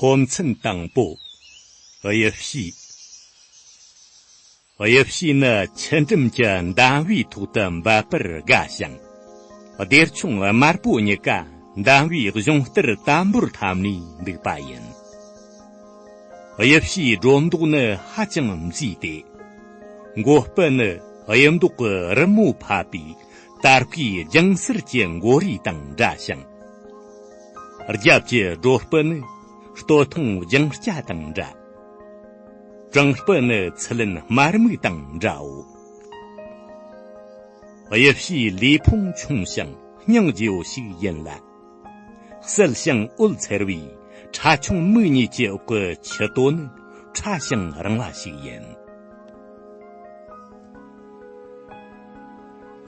ཚོམས་མཚམས་དང་པོ། དབྱིབས་བཞི། དབྱིབས་བཞི་ནི་ཆུ་འགྲམ་གྱི་མདངས་བུའི་ཐོག་ཏུ་འབབ་པར་དགའ་ཞིང། སྡེར་ཆུང་དམར་པོ་གཉིས་ཀ་མདངས་བུའི་གཞུང་གཏེར་དམ་པོར་འཐམ་ནས་འདུག་པ་ཡིན། དབྱིབས་ཕྱིའི་སྒྲོ་འདོགས་ནི་ཧ་ཅང་མཛེས་ཏེ། མགོ་སྤུ་ནི་དབྱིབས་མདོག་གི་རི་མོ་ཕབ་པའི་དར་སྐུའི་རྒྱང་གསེར་གྱི་མགོ་རིལ་དང་འདྲ་ཞིང། རྒྱབ་ཀྱི་སྒྲོ་སྤུ་ནི་སྟོད་ཐུང་རྒྱང་སྐྱ་དང་འདྲ། སྤྲིང་སྤུ་ནི་ཚི་ལེན་དམར་སྨུག་དང་འདྲའོ། དབྱིབས་ཕྱིའི་ལུས་ཕུང་ཆུང་ཞིང་སྙིང་རྗེ་བོ་ཞིག་ཡིན་ལ། གསལ་ཞིང་འོད་འཚེར་བའི་ཁྲ་ཆུང་མིག་གཉིས་ཀྱི་འོག་གི་ཆུ་རྡོ་ནི་ཕྲ་ཞིང་རིང་བ་ཞིག་ཡིན།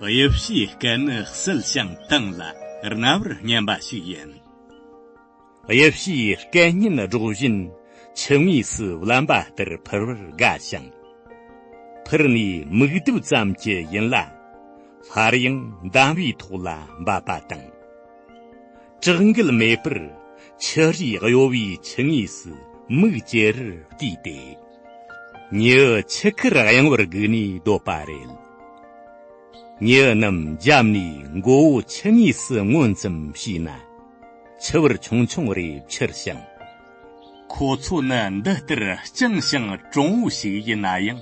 དབྱིབས་ཕྱིའི་སྐད་ནི་གསལ་ཞིང་གཏིང་ལ་རྣ་བར་སྙན་པ་ཞིག་ཡིན། དབྱིབས་ཕྱིའི་སྐད་སྙན་སྒྲོག་བཞིན་ཆུ་ངོས་སུ་བརླན་པ་ལྟར་འཕུར་བར་དགའ་ཞིང། འཕུར་ནས་མིག་ལྡིབ་ཙམ་གྱིས་ཡིན་ལ། སླར་ཡང་འདམ་བུའི་ཐོག་ལ་འབབ་པ་དང། དྲག་འགུལ་མེད་པར་ཆུ་རིས་གཡོ་བའི་ཆུ་ངོས་སུ་མིག་ཅེ་རེར་བལྟས་ཏེ། མྱི་ཆུ་ཁར་གཡེང་བར་བསྒུགས་ནས་སྡོད་པ་རེད། མྱི་རྣམས་རྒྱབ་ནས་མགོ་བོ་ཆུ་ངོས་སུ་མངོན་ཙམ་བྱས་ན། ཆུ་བུར་ཆུང་ཆུང་རེ་འཕྱུར་ཞིང། ཁོ་ཚོ་ནི་འདི་ལྟར་སྤྱང་ཞིང་གྲང་བོ་ཞིག་ཡིན་ན་ཡང།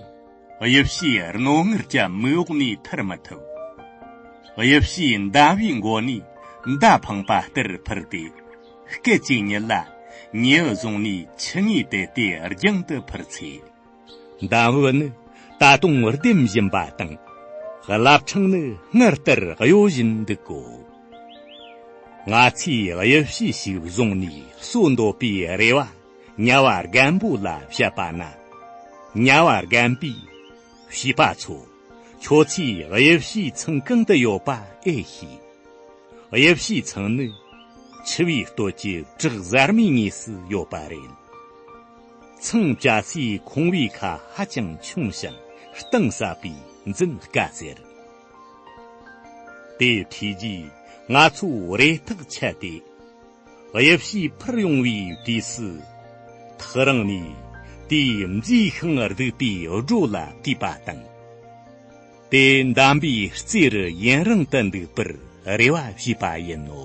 དབྱིབས་ཕྱིའི་རྣོ་ངར་ཅན་མི་འོག་ནས་ཐར་མི་ཐུབ། དབྱིབས་ཕྱིའི་མདའ་བའི་མགོ་ནས་མདའ་འཕངས་པ་ལྟར་འཕུར་ཏེ། སྐད་ཅིག་ཉིད་ལ་ཉེས་བཟུང་ནས་ཆུ་ངོས་དེད་དེ་རྒྱང་དུ་འཕུར་ཚེ། མདའ་འོད་ནི་ད་དུང་ལྡེམ་བཞིན་པ་དང། རླབས་ཕྲེང་ནི་སྔར་ལྟར་གཡོ་བཞིན་འདུག་གོ། ང་ཚོས་དབྱིབས་ཕྱི་ཞིག་བཟུང་ནས་གསོད་འདོད་པའི་རེ་བ་དམྱལ་བ་རྒན་པོ་ལ་བཤད་པ་ན། དམྱལ་བ་རྒན་པས། བྱིས་པ་ཚོ། ཁྱོད་ཚོས་དབྱིབས་བྱེའི་ཚང་གང་དུ་ཡོད་པ་ཨེ་ཤེས། དབྱིབས་བྱེའི་ཚང་ནི། འཆི་བའི་སྟོད་ཀྱི་བྲག་གཟར་མའི་ངོས་སུ་ཡོད་པ་རེད། ཚང་བཅའ་སའི་ཁང་བའི་ཁ་ཧ་ཅང་ཆུང་ཞིང་གཏིང་ཟབ་པས་འཛིན་དཀའ་ཟེར། དེ་ཐོས་རྗེས་ང་ཚོས་རེ་ཐག་ཆད་དེ། དབྱིབས་ཞིག་འཕུར་ཡོང་བའི་དུས་སུ། ཐག་རིང་ནས་དེའི་མཛེས་ཤིང་སྡུག་པའི་སྒྲོ་ལ་བལྟས་པ་དང། དེ་འདམ་པའི་རྩེ་རུ་ཡུན་རིང་དུ་འདུག་པར་རེ་བ་བྱས་པ་ཡིན་ནོ།